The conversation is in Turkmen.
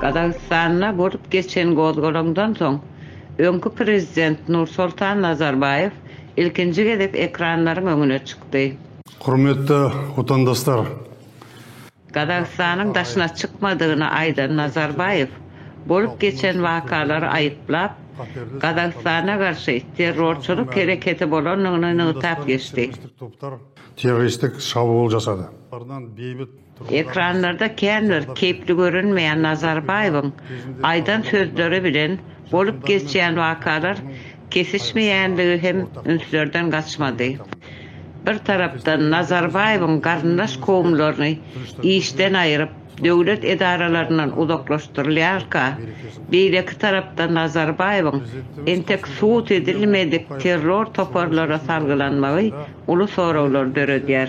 Gazagystanda bolup geçen gozgalaňdan soň, öňki prezident Nursoltan Nazarbaýew ilkinji gezek ekranlaryň öňüne çykdy. Hormatly Watandaslar! Gazagystanyň daşyna çykmadygyny aýdan Nazarbaýew bolup geçen wakalary aýyplap, Gazagystana garşy terrorçylyk hereketi bolandygyny nygtap geçdi. terroristik şabul jasady. Ekranlarda känbir keýpli görünmeýän Nazarbaýewiň aýdan sözleri bilen bolup geçýän wakalar kesişmeýändigi hem ünslerden gaçmady. Bir tarapdan Nazarbaýewiň garyndaş kowumlaryny işden aýryp, döwlet edaralaryndan uzaklaşdyrylýarka, beýleki tarapdan Nazarbaýewiň entek subut edilmedik terror toparlara salgylanmagy uly soraglar döredýär.